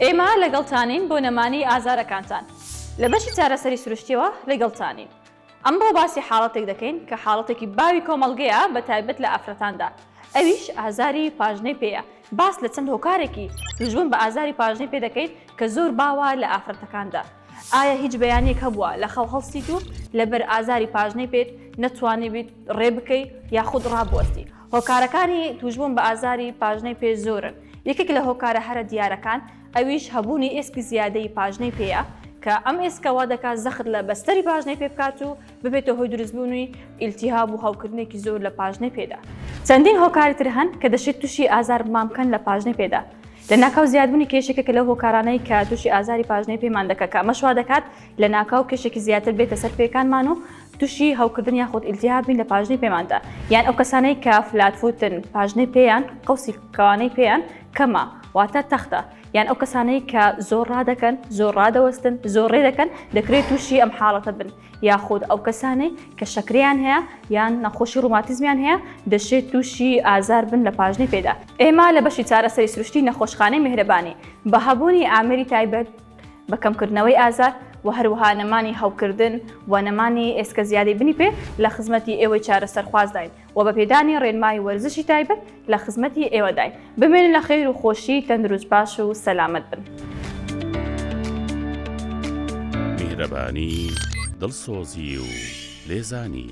ئێمە لەگەڵتانین بۆ نەمانی ئازارەکانتان لە بەشی چارەسەری سروشتیەوە لەگەڵتانین ئەمڕۆ باسی حاڵەتێک دەکەین کە حاڵەتێکی باوی کۆمەڵگەیە بە تایبەت لە ئافرەتاندا ئەویش ئازاری پاژنەی پێەیە باس لە چەند هۆکارێکی دژبوون بە ئازاری پاژنەی پێ دەکەین کە زۆر باوە لە ئافرەتەکاندا ئایا هیچ بەیانێک هەبووە لە خەو هەڵسیت و لەبەر ئازاری پاژنەی پێت نەتوانیبیت ڕێ بکەی یاخود ڕابوەستی هۆکارەکانی تووشبوون بە ئازاری پاژنەی پێ زۆرن، یەکێک لە هۆکارە هەرە دیارەکان ئەویش هەبوونی ئێسکی زیادەی پاژنەی پێیە کە ئەم ئێسکە وا دەکات زەخت لە بەستەری پاژنەی پێ بکات و ببێتە هۆی دروستبوونی ئیلتیهاب و هەوکردنێکی زۆر لە پاژنەی پێدا. چەندین هۆکاری تر هەن کە دەشێت تووشی ئازار مان بکەن لە پاژنەی پێدا، لەناکاو زیادبوونی کێش یەکێکە لەو هۆکارانەی کە تووشی ئازاری پاژنەی پێمان دەکات کە ئەمەش وا دەکات لەناکاو کێشێکی زیاتر بێتە سەر پێیەکانمان و توشی هەوکردن یاخود ئیلتیهاب بین لە پاژنەی پێماندا یان ئەو کەسانەی کە فلات فوتن پاژنەی پێیان قەوسی کەوانەی پێیان کەمە واتە تەختە یان ئەو کەسانەی کە زۆر ڕادەکەن زۆر ڕادەوەستن زۆر ڕێ دەکەن دەکرێت تووشی ئەم حاڵەتە بن یاخود ئەو کەسانەی کە شەکریان هەیە یان نەخۆشی ڕوماتیزمیان هەیە دەشێت تووشی ئازار بن لە پاژنەی پێدا ئێمە لە بەشی چارەسەری سروشتی نەخۆشخانەی میهرەبانی بە هەبوونی ئامری تایبەت بە کەمکردنەوەی ئازار و هەروەها نەمانی هەوکردن و نەمانی ئێسکە زیادی بنی پێ لە خزمەتی ئێوەی چارەسەرخوازداین و بە پێدانی ڕێنمایی وەرزشی تایبەت لە خزمەتی ئێوەداین بمێن لە خێر و خۆشی تەندروست باش و سەلامەت بن. میهرەبانی دڵسۆزی و لێزانی.